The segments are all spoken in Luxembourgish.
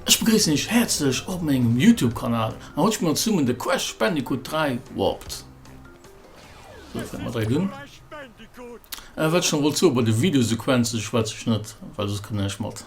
Ech begréissen iech häerzlech op mengem Youtube Kanal an haut spille mer zesummen de Crash Bandicoot 3 Warped. Sou fänke mer direkt un. Äh wat ech nach wollt soen, bei de Videosequenze schwätze ech net, well soss kritt een näischt mat.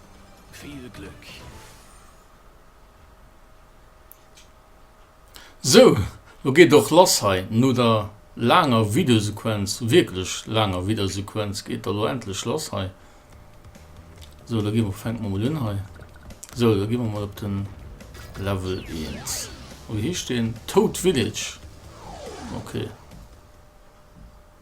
Vill Glück! Sou, lo geet et och lass hei. No der laanger Videosequenz, wierklech laanger Videosequenz, geet et da lo endlech lass hei. Sou, da gi mer, fänke mer mol un hei. Sou, da gi mer mol op de Level 1. Wéi heescht deen? Toad Village. Okay.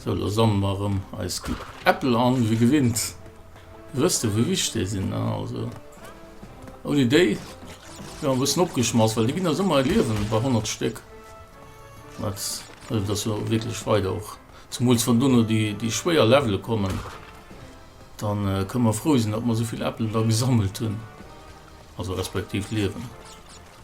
Sou, lo sammele mer erëm eis Äppel an, ewéi gewinnt. Dir wësst jo, wéi wichteg déi sinn, ne? Also, ouni déi wier mer e bëssen opgeschmass, well déi ginn eis ëmmer e Liewen bei 100 Stéck. Dat hëlleft eis jo wierklech weider och. Zemools wann dono déi schwéier Levele kommen, da kënne mer frou sinn, datt mer esou vill Äppel da gesammelt hunn, also respektiv Liewen.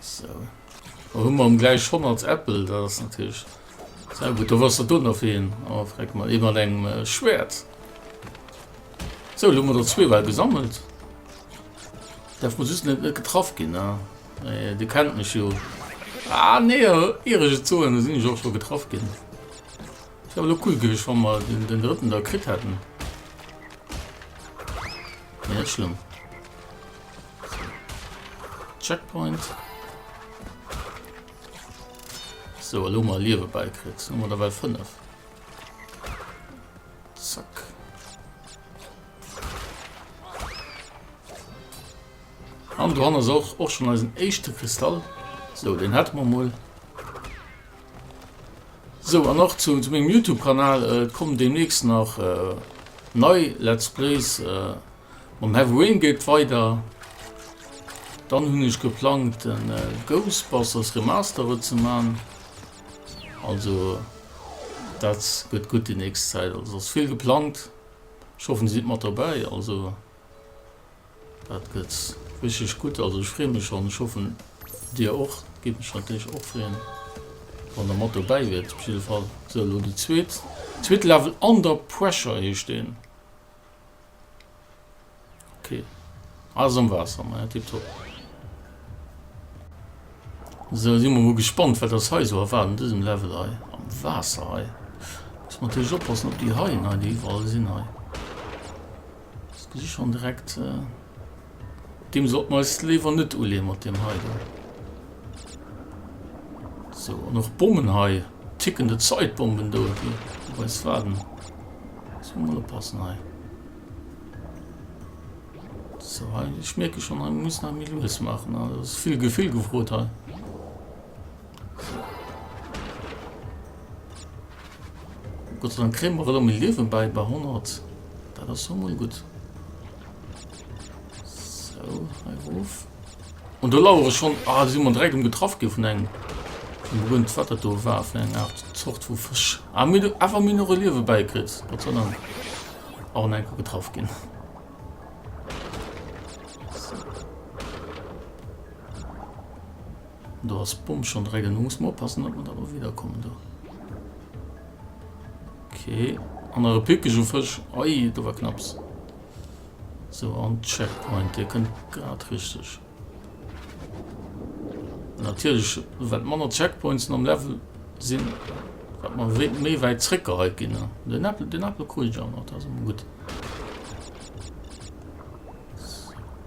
So. Da hun mer am gleich 100 Äppel, dat ass natierlech sehr gut. Da wass der do nach fir een. Oh, freck mal, ee mat engem äh, Schwert. So, lo mer der zwee well gesammelt. Daf muss just net net getraff ginn, ne? Äh, du kennt mech jo. Ah, nee, irege Zoen, da sinn ech och scho getraff ginn. Wär lo cool gewiescht, wann mer den, den drëtten da kritt hätten. Net schlimm. Checkpoint. So, lo mal Liewe beikriegt. Nummer derweil 5. Zack. Und dran ist auch, auch schon als ein echte Kristall. So, den hat man mal. Sou, an och zu mengem Youtube Kanal kommen demnächst nach nei Let's Plays. Mam Heavy Rain geet et weider, dann hunn ech geplangt e Ghostbusters Remastered ze man, also dat gëtt gutt déi nächst Zäit, also ass vill geplangt, ech hoffen dir sidd mat dobäi also. Dat gëtt richteg gutt. Also ech freeë mech schonn. Ech hoffen dir och. Géif mech natierlech och freeën, wann der mat dobäi wiert. Op jidde Fall. Sou, elo déi zweet, zweete Level. Under Pressure heescht deen. Okay. Alles am Waasser, ma ja, tipptopp. Sou, si mer mol gespannt, wat eis hei esou erwaart an dësem Level hei. Am Waasser hei. Muss mer natierlech oppassen op déi Haien hei, déi iwwerall sinn hei. Ech gesi schonn direkt, deem sollte mer eis léiwer net uleeë mat deem hei do. So, an och Bommen hei, tickende Zeitbomben do, déi op eis waarden. Muss mer mol oppassen hei. So, hei, ech mierke schonn, hei, mir müssen hei méi lues maachen. Hei ass vill Gefill gefrot hei. Gott sei Dank kriegen wir alle mal Leben bei, bei 100. Das ist schon mal gut. So, auf. Und da lauere ich schon, ah, sind wir direkt umgetroffen getroffen von einem, von Grund, was das da war, von einer Art Zucht von Fisch. Ah, mir, einfach mir noch ein Leben beikriegt. Gott sei Dank. Auch in einem getroffen gehen. Do ass d'Bomb schon dregel, lo muss mer oppassen dat mer daro wieder kommen do. Ok an nach e Pikeg u Fësch, oi do war knapps. Sou an Checkpoint dee kënnt grad richteg. Natierlech wat manner Checkpointsen am Level sinn, wat mer wéi méi wäit zréck geheit ginn. Den Äppel, den Äppel krut ech awer nach, dat ass emol gutt.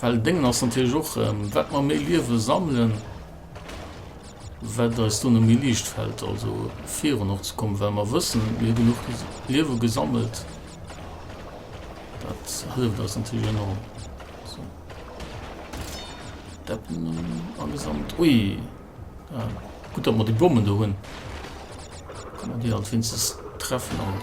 Well Déngen ass natierlech och, ähm, wat mer méi Liewe sammelen, wat eis dunne méi liicht fält, also virun och ze kommen, well mer wëssen, mir hu genuch Liewe gesammelt. Dat hëlleft eis natierlech enorm. So. Deppen äh, angesammelt. Ui! Ja, gut, datt mer déi Bommen do hunn. Kann man déi alt wéinstens treffen. An.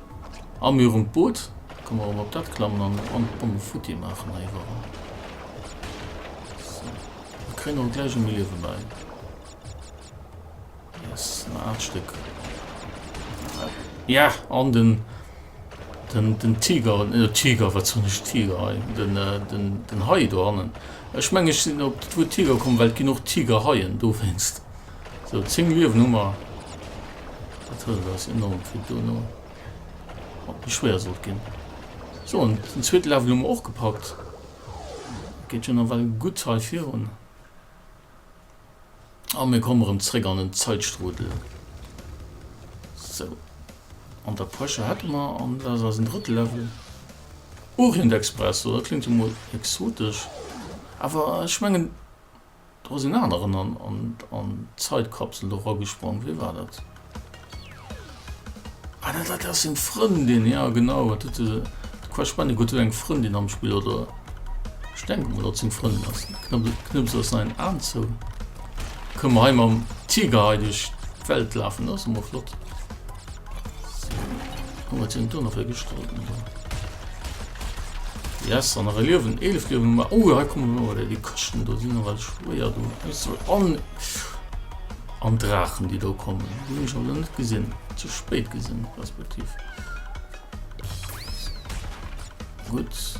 A mir um d'Boot. Komm mer erëm op dat klammen an en bonne futti maachen heiwuerall. Sou. Mir kréien och gläich e Liewe bäi. Yes, en aalt Stéck. Ja, an den, den, den Tiger, äh, Tiger, wat hunn ech Tiger hei? Den, äh, den, den Hai do hannen. Ech mengen, ech sinn op d'Wuert Tiger komm, well et ginn och Tigerhaien dowéinst. Sou 10 Uewen hu mer, dat hëlleft eis enorm fir dono op de Schwéier sollt ginn. Sou an den zweete Level hu mer och gepackt, geet jo nawell gutt hei virun a mir kommen erëm zréck an den Zäitstrudel. Sou an der Pressure hätte mer an dat ass eisen drëtte Level Orient Express, sou dat kléngt jo mol exotesch awer ech mengen, Do ass een aneren an d'Zeitkapsel do eragesprong. Wee war dat? Ah, dat dat ass seng Frëndin, jo genau. Wat huet de Crash Bandicoot huet eng Frëndin am Spill, oder? Ech denke mol, datt seng Frëndin ass. Knëppel, knëppels ass säin Aen zou. Kënne mer hei mam Tiger hei duerch d'Welt lafen, dat ass emol flott. Yes, an nach e Liewen, 11 Liewen, ma oh, hei kommen wir oder die Kosten, do sinn nochmal schwéier, do muss man an an Drachen, die do kommen, die hun ech alle net gesinn, zu spät gesinn, respektiv. Gut.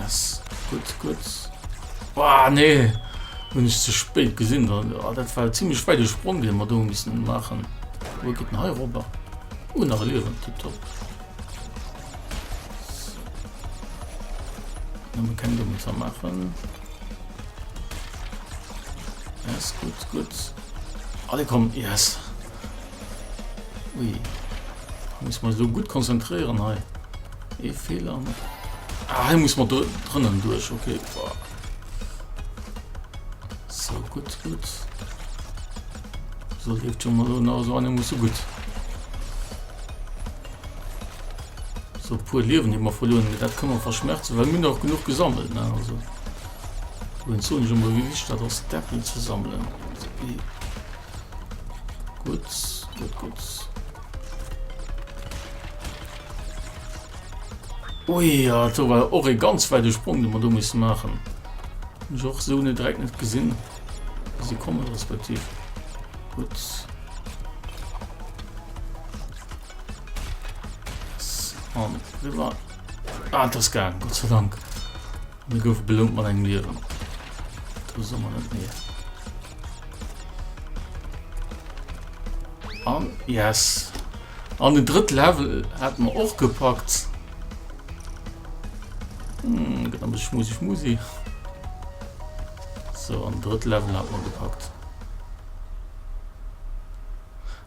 Yes. Gut, gut. Boah, nee. Bin ich zu spät gesehen. Dann, oh, das war ziemlich weit gesprungen, den wir da müssen machen. Wo geht denn hier rüber? Oh, nach Leben. Tipptopp. Dann können wir uns machen. Yes, gut, gut. Alle kommen. Yes. Ui. Muss man so gut konzentriieren hei. E eh, Fehler. Ah, hei muss man drënnen duerch okay. Boah. So gut gut. So lebt schon mal na so eine muss so gut. So pur Leben immer verloren. Dat kann man verschmerzen, weil mir noch genug gesammelt. Ne? Also. Und so nicht immer wie wichtig das Deppel zu sammeln. So, Gutt, gutt, gutt. Ui, ja, da war och e ganz weide Sprung, den wir do mussen machen. Hab ich och so net direkt net gesinn, wie sie kommen respektiv. Gutt. So, rüber. Ah, das gang, Gott sei Dank. Mir goufe belount mat engem Liewen. Do soe mer net nee. An yes. An den drëtt Level hat mer och gepackt. Hm, gëtt ass schmusi schmusi. So an drëtt Level hat mer gepackt.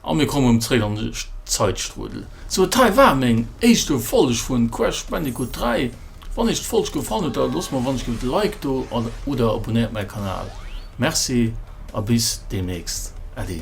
A mir kommen erëm zréck an de Zeitstrudel. Sou, et hei war meng éischte Folg vun Crash Bandicoot 3. Wann iech d'Folg gefallen huet, da loosst mer wannech giff e Like do oder abonnéiert mäi Kanal. Merci a bis deemnächst. Äddi.